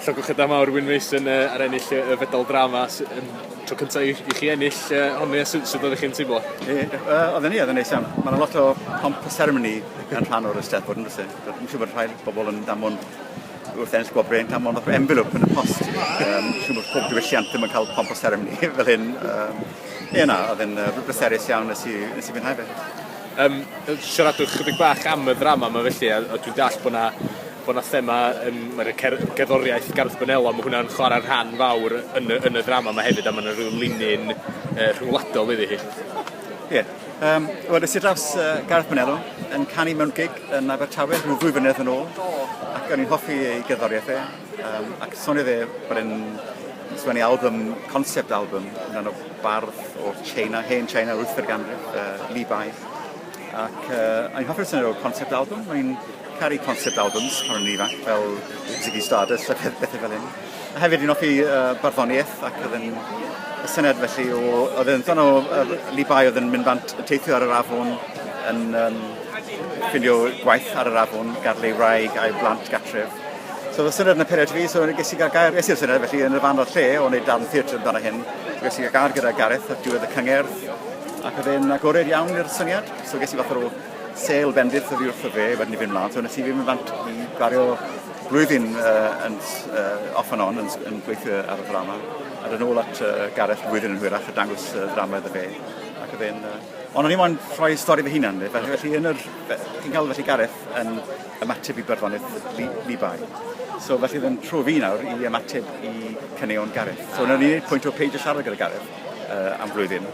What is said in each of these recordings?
Llogwch y da mawr Wyn Mason uh, ar ennill y uh, fedal drama um, tro cyntaf i, i chi ennill uh, honni, e, sut, sut oeddech chi'n teimlo? E, uh, oedd ni, oedd yn neis iawn. Mae yna lot o pomp a seremoni yn rhan o'r ysteddfod yn rhywbeth. Dwi'n siŵr bod rhai bobl yn damon wrth ennill gwobrau yn damon o'r envelop yn y post. Um, siŵr bod pob diwylliant ddim yn cael pomp o seremoni fel hyn. Um, ie na, oedd yn uh, bleserus iawn nes i, nes i fwynhau fe. Um, siaradwch chydig bach am y ddrama yma felly, a, a dwi'n dall bod yna bod 'na thema yn ma' 'na cer- gerddoriaeth Garth Bonello ma' hwnna'n chwarae rhan fawr yn y yn y ddrama 'ma hefyd a ma' 'na ryw linyn yy rhwngwladol iddi hi. Ie. Yym wel es i draws yy Garth Bonello yn canu mewn gig yn Abertawe rhyw ddwy flynedd yn ôl ac o'n i'n hoffi ei gerddoriaeth e yym ac soniodd e bod e'n sgwennu album concept album amdano bardd o Tsieina hen Tsieina yr wythfed ganrif yy Li Bai ac yy o'n i'n hoffi'r syniad o'r concept album o'n i'n Caru concept albums pan o'n i'n ifanc, fel Ziggy Stardust a pethau fel hyn. A hefyd fi'n offi uh, barddoniaeth ac oedd yn y syniad felly o... Oedd yn ddan o uh, Levi oedd yn mynd bant yn teithio ar yr afon yn um, ffindio gwaith ar yr afon, gadlu ei wraig a'i blant gatref. So oedd y syniad yn y period fi, so ges i gael gair, ges i'r syniad felly yn y fan o'r lle o'n wneud darn theatr amdano hyn. So ges i gael gair gyda Gareth ar diwedd y cyngerdd ac oedd e'n agored iawn i'r syniad. So ges i fath o Sale bendith oddi wrtho fe wedyn i fynd mlaen, so nes i fynd fant i gwario blwyddyn uh, yn, uh, off and on yn, yn gweithio ar y ddrama. A dyn ôl at uh, Gareth blwyddyn yn hwyrach a dangos uh, ddrama iddo fe. Ac oedd e'n... Uh, ond o'n i moyn rhoi stori fy hunan, felly, felly yn yr... Chi'n cael felly Gareth yn ymateb i byrddonydd li, Libai. So felly oedd e'n tro fi nawr i ymateb i caneuon Gareth. So o'n i'n gwneud pwynt o peidio siarad gyda Gareth. uh, am flwyddyn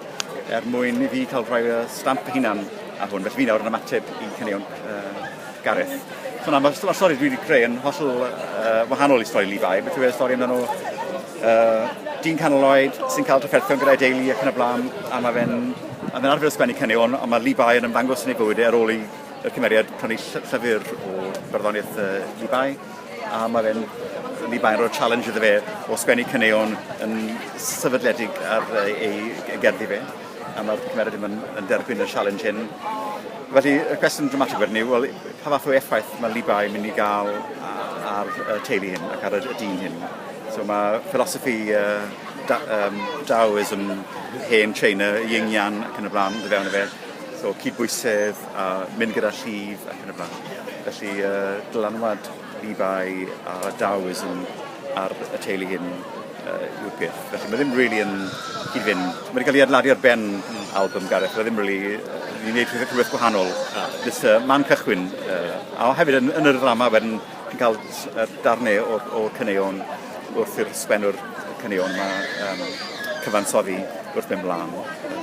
er mwyn i fi cael rhoi uh, stamp y hunan ar hwn. Felly fi nawr yn ymateb i cynnion uh, Gareth. So na, mae'r ma stori dwi wedi creu yn hollol uh, wahanol i stori Levi. Beth yw'r stori amdano uh, dyn canol oed sy'n cael trafferthion gyda'i deulu ac yn y blaen, a mae fe'n a fe'n arfer ysgwennu cynnion, ond mae Levi yn ymddangos yn ei bywyd e ar ôl i'r cymeriad prynu llyfr o barddoniaeth uh, Levi. a mae fe'n rili baen o'r challenge iddo fe o sgwennu caneuon yn sefydledig ar ei gerddi fe, a mae'r cymeriad ddim yn, yn derbyn y challenge hyn. Felly, y cwestiwn dramatig wedyn yw, wel, pa fath o effaith mae Libai yn mynd i gael ar y teulu hyn ac ar y, y dyn hyn. So mae philosophy uh, da, um, Daoism, hen China, Ying Yang ac yn y blaen, dy fewn y fe. So cydbwysedd, a mynd gyda llif ac yn y blaen. Felly yy dylanwad eBay a Dowes yn ar y teulu hyn yy yw'r peth. Felly mae ddim rili yn cyd-fynd. Mae 'di cael ei adladu ar ben albym Gareth, mae ddim rili yy ni'n neud rhywbeth rhywbeth gwahanol. Ah. Jyst yy man cychwyn yy a hefyd yn yn yr ddrama wedyn chi'n ca'l s- yy darne o o caneuon wrth i'r sgwennwr caneuon 'ma yym cyfansoddi wrth mynd mlan.